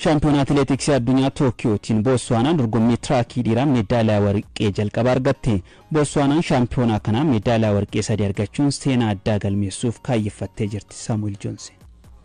Shaampiyoonaa Atileetiksii Addunyaa Tookiyootiin Bootsuwaanaan dorgommii tiraakii dhiiraa meedaaliyaa warqee jalqaba argatte. Bootsuwaanaan shaampiyoonaa kanaa meedaaliyaa warqee sadii argachuun seenaa addaa galmeessuuf kaayyeffattee jirti. Saamu'eel Joonsi.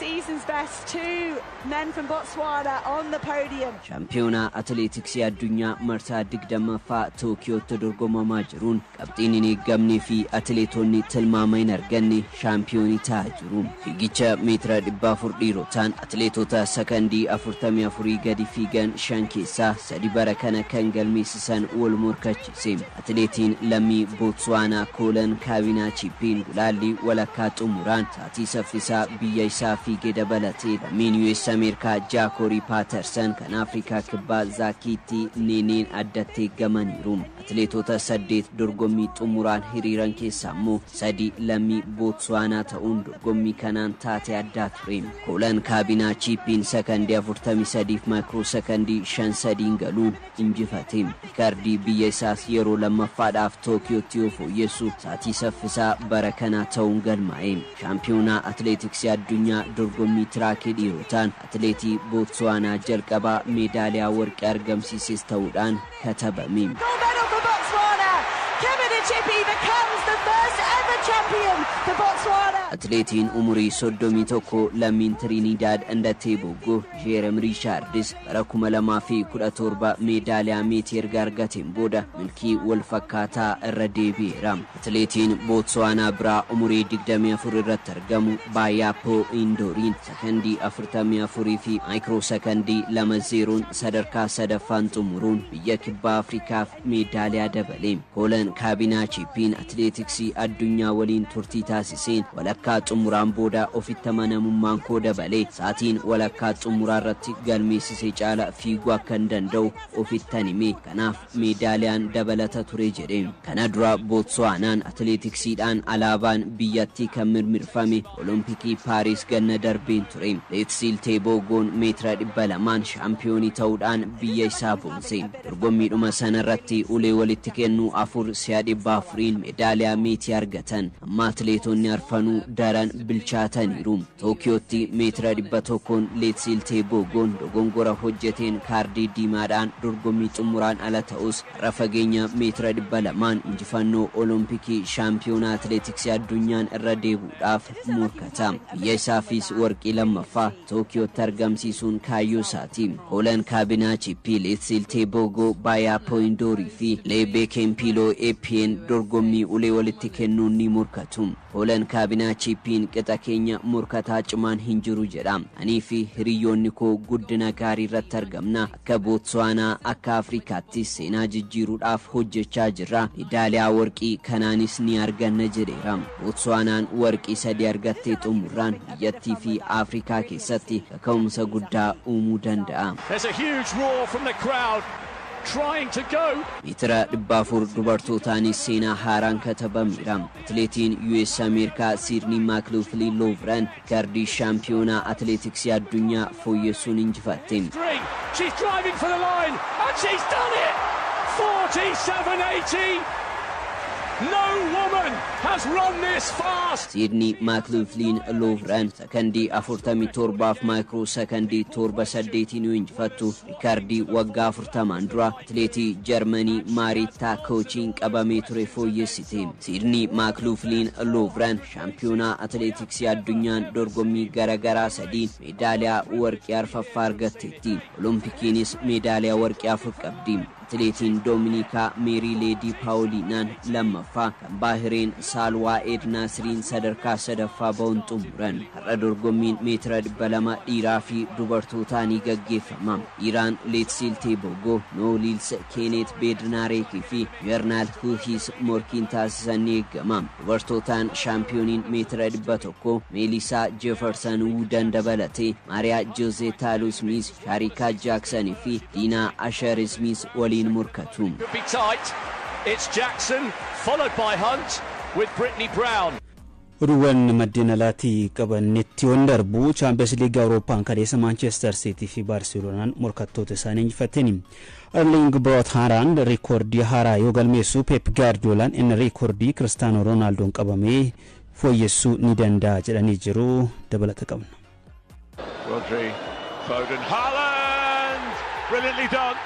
Season's best, two men from Botswana on the podium. Shaampiyoonaa Atileetiksii Addunyaa marsaa 20ffaa Tookiyootti dorgomamaa jiruun qabxiin hin eeggamnee fi atileetonni tilmaama hin arganne shaampiyoonii ta'aa jiru. Fiigicha meetira 400 dhiirotaan atileetota sakandii 44 gadi fiigan shan keessaa sadi bara kana kan galmeessisan wal morkachiise. Atileetiin lammii Bootsuwaanaa Koolan Kaabinaa Chiippiin gulaallii walakkaa xumuraan Ati saffisaa biyya isaa fiige dabalatee lammiin US Ameerikaa Jaakoorii Paatarsan kan Afrikaa Kibbaa Zaakiitti Niiniin addatti eeggamaniiru. Atileetoota saddeet dorgommii xumuraan hiriiran keessaa immoo sadi lammii Bootsuwaanaa ta'uun dorgommii kanaan taatee addaa ture. Koolan Kaabinaa Chiippiin sakandii 43f maayikiroo sakandii 5 sadiin galuun injifateen rikardii biyya isaas yeroo lammaffaadhaaf Tookiyootti yoo fooyyessu saatii saffisaa bara kanaa ta'uun galmaa'e. Shaampiyoonaa Atileetiksii Addunyaa dorgommii Tiraakii dhiirotaan atileetii Bootsuwaanaa jalqabaa meedaaliyaa warqee argamsiises ta'uudhaan katabame. Gold medal for Botswana, Kemedy Chiphi becomes the first ever champion for Botswana. Atileetiin umurii 31 lammiin Tiriiniidaad Andattee Boggo, Jeerem Riichaardis bara 2017 meedaaliyaa meetii erga argateen booda milkii wal fakkaataa irra deebi'eera. Atileetiin Bootsuwaanaa biraa umurii 24 irratti argamu Baayaappoo Indooriin sakandii 44 fi maayikiroo sakandii 2 zeeroon sadarkaa 3ffaan xumuruun biyya Kibbaa Afrikaaf Meeddaaliyaa dabale. Poolan Kaabinaa Chiippiin atileetiksii addunyaa waliin turtii taasiseen walakkaa xumuraan booda ofitti amanamummaan koo dabale. Sa'atiin walakkaa xumuraarratti galmeessise caala fiiguu akkan danda'u ofittan hime. Kanaaf meedaaliyaan dabalata ture jedhe. Kana dura Bootsuwaanaan atileetiksiidhaan alaabaan biyyattii kan mirmirfame Olompikii Paariis ganna darbeen ture. Leetsiil Teeboogoon meetira 200n shaampiyoonii ta'uudhaan biyya isaa boonse. Dorgommiidhuma sanarratti ulee walitti kennu afur si'a 400n meedaaliyaa meetii argatan. Amma atileetonni arfanuu daran bilchaataniiru. Tookiyootti meetira 100n Leetsiil Teegoogoon dogongora hojjeteen kaardii diimaadhaan dorgommii xummuraan ala ta'us, har'a fageenya meetira 200n injifannoo Olompikii Shaampiyoonaa Atileetiksii Addunyaan irra deebuudhaaf morkata. Biyya isaafis warqii lammaffaa. Tookiyootti argamsiisuun kaayyoo isaati. Hoolan Kaabinaachi, Piil Itsiltee Boogoo, Baayaa Pooyindoorii fi Lee Beekenpiiloo Eppiyeen dorgommii ulee walitti kennuun ni morkatu. Hoolan Kaabinaachi Eppiin qixa keenya morkataa cimaan hin jiru jedha. Anii fi hiriyyoonni koo guddina gaarii irratti argamna. Akka Bootsuwaanaa, akka Afrikaattis seenaa jijjiiruudhaaf hojjechaa jirra. Medaaliyaa warqii kanaanis ni arganna jedheera. Bootsuwaanaan warqii sadii argattee xumurraan biyyattii fi Afrikaa keessatti kaka'umsa guddaa uumuu danda'a. There's a huge roar from the crowd trying to go. Meetira 400 dubartootaanis seenaa haaraan katabameera. Atileetiin US Ameerikaa Siidnii Maakiloofilii Loovren Riikardii Shaampiyoonaa Atileetiksii Addunyaa fooyyessuun injifatte. Siidnii Maakluufliin Luuvran sakandii 47f maayikroo sakandii 7 8'n yoo injifattu, riikardii waggaa 40n dura atileetii Jarmanii Maariittaa Koochiin qabamee ture fooyyessite. Siidnii Maakluufliin Luuvran Shaampiyoonaa Atileetiksii Addunyaan dorgommii gara garaa sadiin meedaaliyaa warqii arfaffaa argatteetti. Olompikiinis meedaaliyaa warqii afur qabdi. Atileetiin Doominiikaa Meerii Leedii Paawoliinaan lammaffaa, kan Baahireen Saalwaa Eed Naasiriin sadarkaa sadaffaa ba'uun xumuran. Har'a dorgommiin meetira 200 dhiiraa fi dubartootaa ni gaggeeffama. Dhiiraan Leetsiil Teeboogoo, Noo Liils, Keeneet Beednaareek fi Juwernaal Huuhiis morkiin taasisan ni eegama. Dubartootaan shaampiyooniin meetira 100 Meeliisaa Jeefarsan Wuudan dabalatee Maariyaa Joozee Taaluu Ismiiz, Shaariikaa Jaaksan fi Diinaa Ashar Ismiiz waliin morkatu. Could be tight. It's Jackson, followed by Hunt, with Brittany Brown. Oduuwwan maddeen alaatii qabannetti yoon darbu, Chaampiyeens Liigii Awurooppaan kaleessa Maanchester Siitii fi Baarseloonaan morkattoota isaanii injifataniiru. Erliing Broot Haalaand riikoordii haaraa yoo galmeessu Peep Gaardiyoolaan inni riikoordii Kiristaanoo Roonaaldoon qabame fooyyessuu ni danda'a jedhanii jiru. Dabalata qabna. Rodri, Foden, Haaland! Brilliantly done!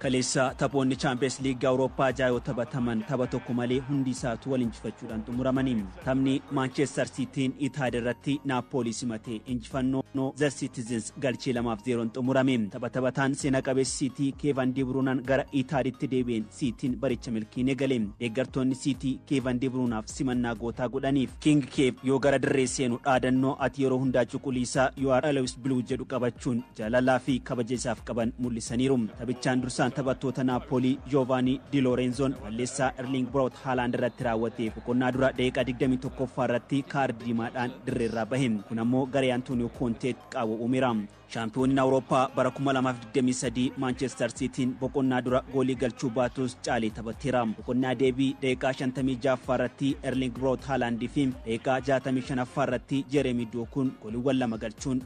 Kaleessa taphoonni Chaampiyeens Liigii Awurooppaa ja'a yoo taphataman tapha tokko malee hundi isaatu wal injifachuudhaan xumuramani. Taphni Maanchestar Siitiin Itaad irratti Naappoolii simate injifannoo The Citizens galchii 2 fi 0n xumurame. Tapha taphataan seena qabeessi Siitii Keevan Dibruunaan gara Itaaditti deebi'een Siitiin baricha milkiin egale. Deeggartoonni Siitii Keevan Dibruunaaf simannaa gootaa godhaniif. King Keev yoo gara dirree seenu dhaadannoo ati yeroo hundaa cuquliisa you are always blue jedhu qabachuun jaalalaa fi kabaja isaaf qaban mul'isaniiru. Taphichaan dursaan taphattoota Naappoolii Joovaanii Di Loorenzoon Balleessaa Erliing Broot Haalaand irratti raawwate boqonnaa dura daqiiqaa 21ffaa irratti kaardi diimaadhaan dirreerraa bahe. Kun ammoo garee Antooniyoo Koonteetti qaawwa uumeera. Shaampiyooniin Awurooppaa bara 2023 Maanchestar Siitiin boqonnaa dura goolii galchuu baatus caalee taphateera. Boqonnaa deebii daqiiqaa 56ffaa irratti Erliing Broot Haalaand fi daqiiqaa 65ffaa irratti Jeereemii Dookuun gooliiwwan lama galchuun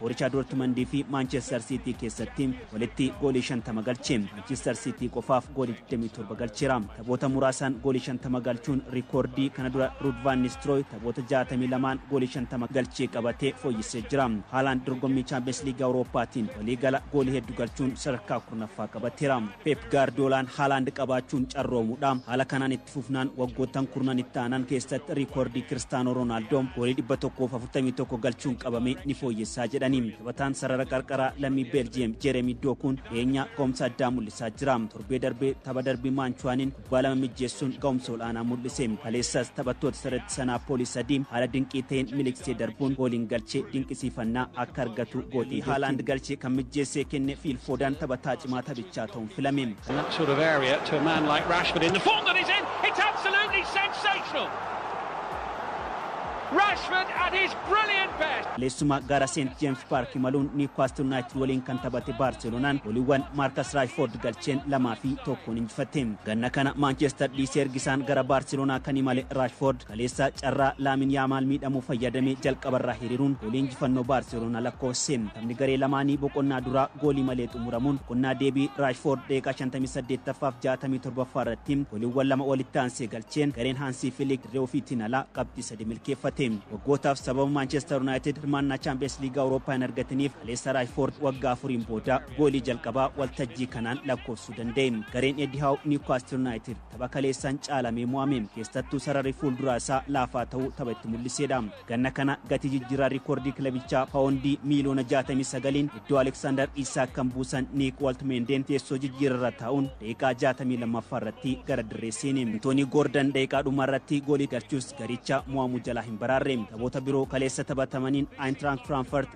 Boorichaa Doortimandii fi Maanchestar Siitii keessatti walitti goolii 50 galche. Maanchestar Siitii qofaaf goolii 27 galcheera. Taphoota muraasaan goolii 50 galchuun rikoordii kana dura Ruud Vaan Nistirooy taphoota 62n goolii 50 galchee qabatee fooyyessee jira. Haalaand dorgommii Chaampiyeens Liigii Awurooppaatiin waliigala goolii heddu galchuun sadarkaa kurnaffaa qabateera. Peep Gaardiyoolaan Haalaand qabaachuun carroomuudha. Haala kanaan Itti fufnaan waggoottan kurnan itti aanan keessatti riikoordii Kiristaanoo Roonaaldoo goolii 141 galchuun qabame ni fooyyessaa jedhani. Taphataan sarara qarqaraa lammii Beeljiyeem Jeeremii Dookuun dhiyeenyaa ga'umsa addaa mul'isaa jira. Torbee darbe tapha darbii Maanchuwaaniin kubbaa lama mijjeessuun ga'umsa ol'aanaa mul'ise. Kaleessas taphattoota sarara ittisaa Naappoolii sadii haala dinqii ta'een miliqsee darbuun gooliin galche dinqisiifannaa akka argatu gootee jirti. Haalaand galche kan mijjeessee kenne Fiil Foodaan taphataa cimaa taphichaa ta'uun filame. In that sort of area to a man like Rashford in the form that he's in, it's absolutely sensational! Rashford at his brilliant best! Leessuma gara Seent Jeems Paark imaluun Niwkaastil Yuunaayitid waliin kan taphate Baarseloonaan goliiwwan Maarkas Raashfoord galcheen lamaa fi tokkoon injifatte. Ganna kana Maanchestar dhiisee ergisaan gara Baarseloonaa kan imale Raashfoord Kaleessa carraa Laamin Yaamaal miidhamu fayyadamee jalqabarraa hiriiruun goolii injifannoo Baarseloonaa lakkoofse. Taphni garee lamaanii boqonnaa duraa goolii malee xumuramuun boqonnaa deebii Raashfoord daqiiqaa 58ffaaf 67ffaa irratti gooliiwwan lama walitti aansee galcheen gareen Haansii Filiik dirree ofiitiin alaa qabxii sadii milkeeffate. Waggootaaf sababa Maanchester Yunaayitid hirmaannaa Chaampiyeens Liiga Awurooppaa hin argatiniif kaleessa Raashfoord waggaa afuriin booda goolii jalqabaa waltajjii kanaan lakkoofsuu danda'e. Gareen Eddii Haaw Niwkaastil Yunaayitid. Tapha kaleessaan caalamee mo'ame. Keessattuu sararri fuulduraa isaa laafaa ta'uu tapha itti mul'iseedha. Ganna kana gatii jijjiirraa riikoordii kilabichaa paawondii miiliyoona 69n iddoo Aleksaandar Iisaak kan buusan Niik Waltmeendeen teessoo jijjiirarra taa'uun daqiiqaa 62ffaa irratti gara dirree seene. Antoonii Goordan daqiiqaa dhumaa irratti goolii galchus garicha mo'amuu jalaa hin baraarre. Taphoota biroo kaleessa taphatamaniin Aayintiraakt Firaanfart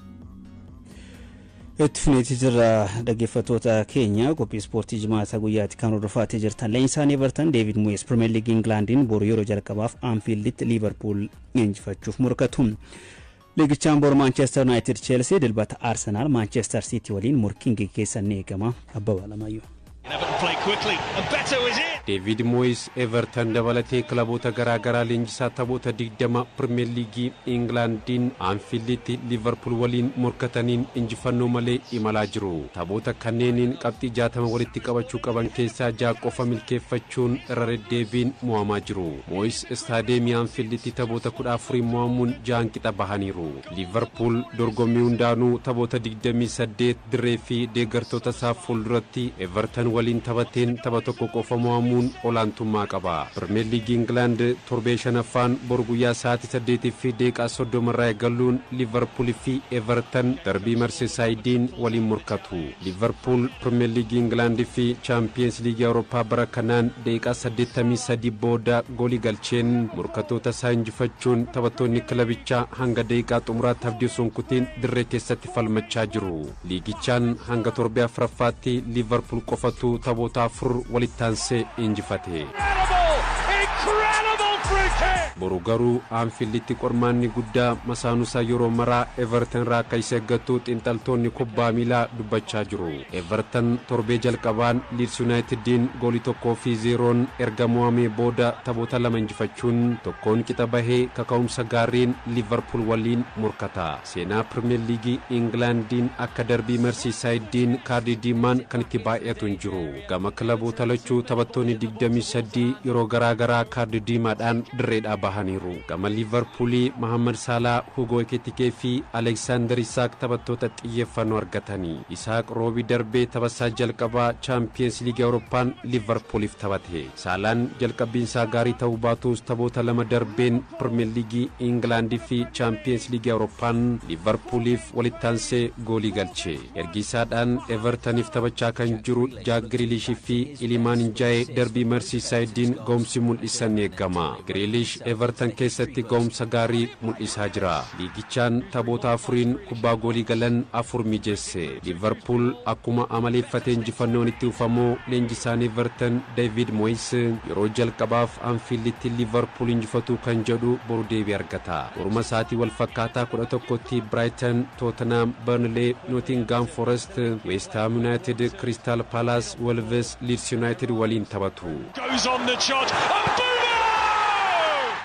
itti fufneetii jirra dhaggeeffattoota keenya qophii ispoortii jimaata guyyaatti kan hordofaa jirtan leenjisaan eevartan deevid mu'ees pirimeer liigii ingilaandiin boru yeroo jalqabaaf aanfiilditti liivarpuul leenjifachuuf morkatu liigichaan boru maanchestar yunaayitid cheelsii dilbata arsenaal maanchestar siitii waliin morkiin geggeessan ni eegama abbabaa lamayyuu. Deeviid Mooyis Evertan dabalatee kilaboota garaa garaa leenjisaa taphoota 20 Pirimeer Liigii Ingilaandiin Anfiilditti Liivarpuul waliin morkataniin injifannoo malee imalaa jiru. Taphoota kanneeniin qabxii 60 walitti qabachuu qaban keessaa ja'a qofa milkeeffachuun irra deddeebiin mo'amaa jiru. Mooyis Istaadeemii Anfiilditti taphoota 14n mo'amuun ja'an qixa bahaniiru. Liivarpuul dorgommii hundaanuu taphoota digdamii saddeet dirree fi deeggartoota isaa fuulduratti Evertan waliin taphateen tapha tokko qofa mo'amuun olaantummaa qaba. Pirimeer Liigii Ingilaand torbee shanaffaan bor guyyaa sa'aatii saddeetii fi daqiiqaa soddoma irraa eegaluun Liivarpuul fi Evertan darbii Marseesaayidiin waliin morkatu. Liivarpuul Pirimeer Liigii Ingilaand fi Chaampiyeens Liigii Awurooppaa bara kanaan daqiiqaa saddeettamii sadii booda goolii galcheen morkattoota isaa injifachuun taphattoonni kilabichaa hanga daqiiqaa xumuraatti abdii osoo hin kutiin dirree keessatti falmachaa jiru. Liigichaan hanga torbee afraffaatti Liivarpuul qofatu taphoota afur walitti aansee injifate. Boru garuu Aanfiilditti qormaanni guddaa masaanuusaa yeroo maraa Everton irraa akka isa eeggattu xiinxaltoonni kubbaa miilaa dubbachaa jiru. Everton torbee jalqabaan Liids Yuunaayitiddiin goolii tokkoo fi zeeroon erga mo'amee booda taphoota lama injifachuun tokkoon qixa bahee kaka'umsa gaariin Liivarpuul waliin morkata. Seenaa Pirmeer Liigii Ingilaandiin akka darbii Marsiisaayiddiin kaardii diimaan kan itti baay'atu hin jiru. Gama kilaboota lachuu taphattoonni 23 yeroo garaa garaa kaardii diimaadhaan dirreedhaa bahaniiru. Gama Liivarpuulii Mahaammad Saalaa, Hugoo Ekitikee fi Aleeksaandar Isaak taphattoota xiyyeeffannoo argatani. Isaak Roobii darbe taphasaa jalqabaa Chaampiyeens Liigii Awurooppaan Liivarpuuliif taphate. Saalaan jalqabbiinsaa gaarii ta'uu baatuus taphoota lama darbeen Pirimeer Liigii Ingilaand fi Chaampiyeens Liigii Awurooppaan Liivarpuuliif walittaansee goolii galche. Ergiisaadhaan Evertaniif taphachaa kan jiru Jaak Giriiliish fi Ilimaan Njaayee darbii Marsiisaayidiin gahumsi mul'isan ni eegama. Giriiliish Evertan keessatti gahumsa gaarii mul'isaa jira. Liigichaan taphoota afuriin kubbaa goolii galan afur mijeesse. Liivarpuul akkuma amaleeffate injifannoon itti fufamoo leenjisaan Evertan Deeviid Moyis yeroo jalqabaaf Anfiilditti Liivarpuul injifatuu kan jedhu boru deebii argata. Boruma sa'aatii wal fakkaataa 11tti Biraayitan, Tootenhaam, Barnilee, Nootingaam Forest, Weest Haam Yunaayitid, Kiristaal Paalaas, Wolves, Liids Yunaayitid waliin taphatu. goes on the trot and Bumo!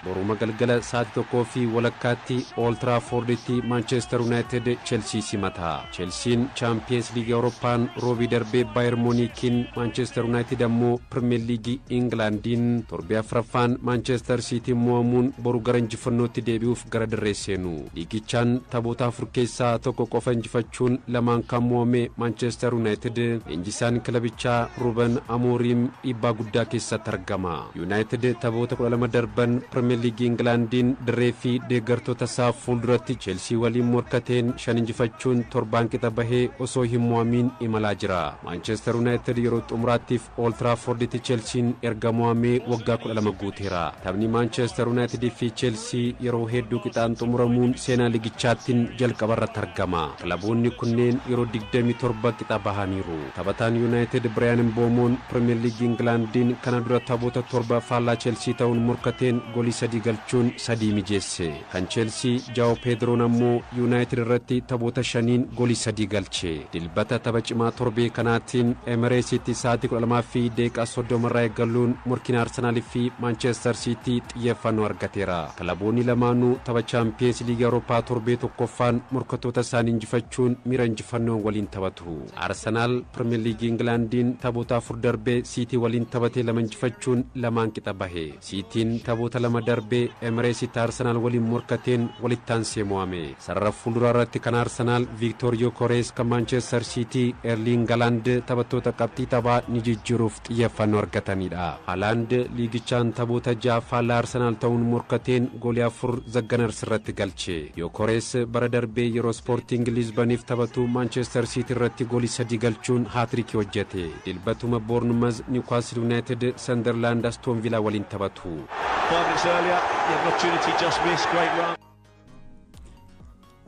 Boruma galgala sa'aatii tokkoo fi walakkaatti Ool Tiraafoorditti Maanchester Yuunaayitid Chelsii simata. Chelsiin Chaampiyeens Liigii Awurooppaan roobii darbe Baayer Muuniikiin, Maanchester Yuunaayitid ammoo Pirimeer Liigii Ingilaandiin torbee afraffaan Maanchester Siitiin mo'amuun boru gara injifannootti deebi'uuf gara dirree seenu. Liigichaan taphoota afur keessaa tokko qofa injifachuun lamaan kan mo'ame Maanchester Yuunaayitid leenjisaan kilabichaa Ruben Amooriim dhiibbaa guddaa keessatti argama. Yuunaayitid taphoota 12 darban Pirimeer Liigii Ingilaandiin dirree fi deeggartoota isaa fuulduratti Cheelsii waliin morkateen shan injifachuun torbaan qixa bahee osoo hin mo'amiin imalaa jira. Maanchester Yuunaayitid yeroo xumuraatti Ool Tiraaforditti Chelsiin erga mo'amee waggaa 12 guuteera. Taphni Maanchester Yunaayitid fi Chelsii yeroo hedduu qixaan xumuramuun seenaa ligichaattin jalqabarratti argama. Kilaboonni kunneen yeroo 27 qixa bahaniiru. Taphataan Yunaayitid Biraayan Mboomoon Pirimeer Liigii Ingilaandiin kana dura taphoota torba faallaa Chelsii ta'uun morkateen golii sadii galchuun sadii mijeesse. Kan Chelsii Jao Pedro'n ammoo Yunaayitid irratti taphoota shaniin golii sadii galche. Dilbata tapha cimaa torbee kanaatiin Emireesitti sa'aatii 12:30 irraa eegaluun morkiin Arsenaal fi Maanchester Siitii xiyyeeffannoo argateera. Kilaboonni lamaanuu tapha Chaampiyeens Liigii Awurooppaa torbee tokkoffaan morkattoota isaanii injifachuun miira injifannoon waliin taphatu. Arsenaal Pirimeer Liigii Ingilaandiin taphoota afur darbe Siitii waliin taphatee lama injifachuun lamaan qixa bahe. Siitiin taphoota lama darbe Emireesitti Arsenaal waliin morkateen walittaansee mo'ame. Sarara fuulduraa irratti kan Arsenaal Viiktoor Yokorees kan Maanchester Siitii Erliing Halaand taphattoota qabxii taphaa ni jijjiiruuf xiyyeeffannoo argatanidha. Halaand liigichaan taphoota ja'a faallaa Arsenaal ta'uun morkateen goolii afur The Gunners irratti galche. Yokorees bara darbe yeroo Ispoortiing Liizbaniif taphatu Maanchester Siitii irratti goolii sadii galchuun haatiriikii hojjete. Dilbatuma Boornmaz, Niwkaasl Yunaayitid, Sandarlaand Astoon Vilaa waliin taphatu.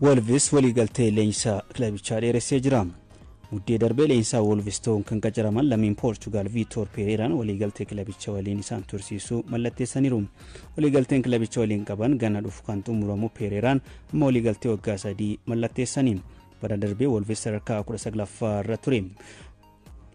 Wolvis waliigaltee leenjisaa kilabichaa dheeressee jira. Muddee darbee leenjisaa Wolvis ta'uun kan qacaraman lammiin Poorchugaal Viitoor Peereeraan waliigaltee kilabicha waliin isaan tursiisuu mallatteessaniiru. Waliigalteen kilabicha waliin qaban ganna dhufu kan xumuramu Peereeraan amma waliigaltee waggaa sadii mallatteessaniin. Bara darbee Wolves sadarkaa 19ffaa irra ture.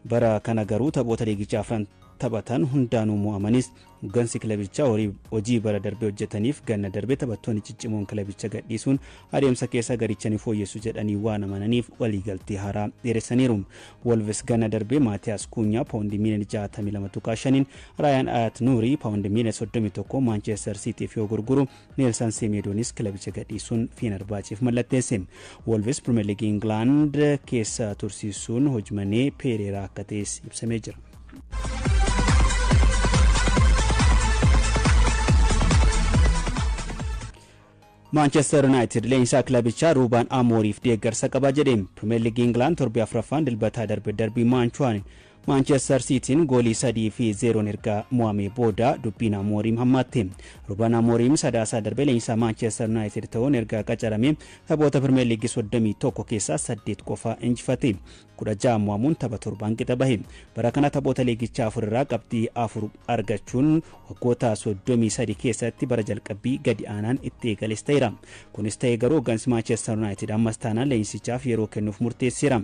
Bara kana garuu taphoota liigichaa afran taphatan hundaanuu mo'amanis hoggansi kilabichaa hojii bara darbe hojjetaniif ganna darbe taphattoonni ciccimoon kilabicha gadhiisuun adeemsa keessa garicha ni fooyyessu jedhanii waan amananiif waliigaltee haaraa dheeressaniiru. Wolves ganna darbe Maatiyaas Kuunyaa paawundi miiliyoona 62.5n, Raayaan Ayat Nuurii paawundi miiliyoona 31 Maanchestar Siitiif yoo gurguru Neelsan Semeedoonis kilabicha gadhiisuun Feenarbaacheef mallatteesse. Wolves Pirimeer Liigii Ingilaand keessa tursiisuun hojmanee Peereeraa akka ta'es ibsamee jira. Maanchestar Yuunaayitid leenjisaa kilabichaa Ruubaan Amooriif deeggarsa qaba jedhe. Pirimeer Liigii Ingilaand torbee afraffaan dilbataa darbe darbii Maanchuwaan Maanchester Siitiin goolii 3 fi 0n erga mo'amee booda dubbiin Amooriim hammaatte. Ruben Amooriim Sadaasa darbe leenjisaa Maanchester Yunaayitid ta'uun erga qacaramee taphoota Pirimeer Liigii 31 keessaa 8 qofa injifate. 16 mo'amuun tapha 7n qixa bahe. Bara kana taphoota liigichaa 4 irraa qabxii 4 argachuun waggoota 33 keessatti bara jalqabbii gadi aanaan itti eegales ta'eera. Kunis ta'ee garuu hoggansi Maanchester Yunaayitid ammas taanaan leenjisichaaf yeroo kennuuf murteesseera.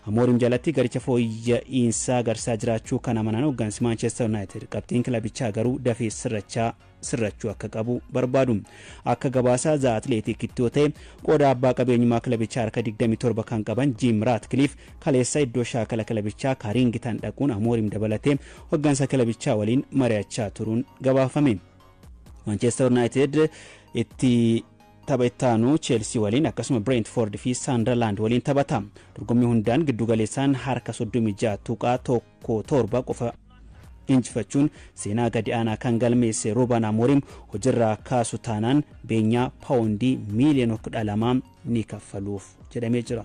Amoorim jalatti garicha fooyya'iinsa agarsiisaa jiraachuu kan amanan hoggansi Maanchester Yunaayitid qabxiin kilabichaa garuu dafee sirrachaa sirrachuu akka qabu barbaadu. Akka gabaasa The Athletic'tti yoo ta'e qooda abbaa qabeenyummaa kilabichaa harka 27 kan qaban Jim Ratcliffe kaleessa iddoo shaakala kilabichaa Kaaringitan dhaquun Amoorim dabalatee hoggansa kilabichaa waliin mari'achaa turuun gabaafame. Maanchester Yunaayitid itti Tapha itti aanu Cheelsii waliin akkasuma Bireentifoord fi Saandarlaand waliin taphata. Dorgommii hundaan giddu galeessaan harka 36.17 qofa injifachuun seenaa gadi aanaa kan galmeesse Ruuban Amoorim hojirraa kaasu taanaan beenyaa paawondii miiliyoona 12 ni kaffaluuf jedhamee jira.